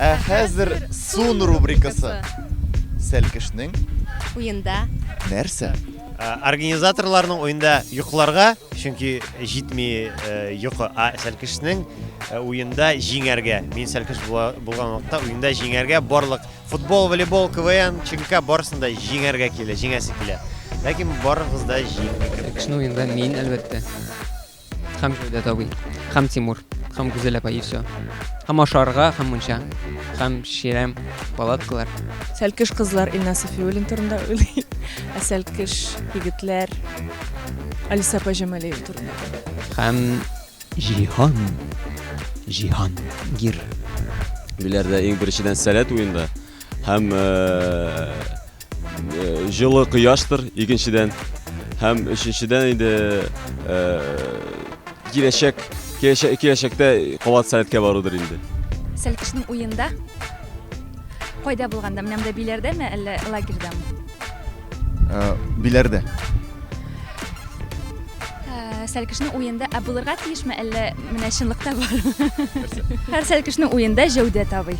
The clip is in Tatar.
Ә хәзер сон рубрикасы. Сәлкешнең уенда нәрсә? Э, организаторларның уенда йокларга, чөнки җитми э, йокы, а сәлкешнең э, уенда җиңәргә. Мин сәлкеш булган вакытта уенда җиңәргә барлык футбол, волейбол, КВН, чөнки барысында җиңәргә килә, җиңәсе килә. Ләкин барыгыз да җиңмик. Сәлкешнең уенда мин әлбәттә. Хәм Җәүдәт абый, хәм Тимур, хәм Гүзәл апа и все. Хәм ашарга, хәм мунча, хәм чирәм, палаткалар. Сәлкеш кызлар Илна Сафиуллин турында уйлый. Ә сәлкеш егетләр Алиса апа Җамалиева турында. Хәм Җиһан. Җиһан Гир. Биләрдә иң беренчедән сәләт уенда һәм э, Җылы кояштыр, икенчедән. Һәм өченчедән инде киләчәк киләчәктә кабат сәләткә барудыр инде. Сәлкешнең уенда кайда булганда, менә монда биләрдәме, әллә лагерьдамы? Э, биләрдә. Э, сәлкешнең уенда ә булырга тиешме, әллә менә чынлыкта бармы? Һәр сәлкешнең уенда җәүдәт абый.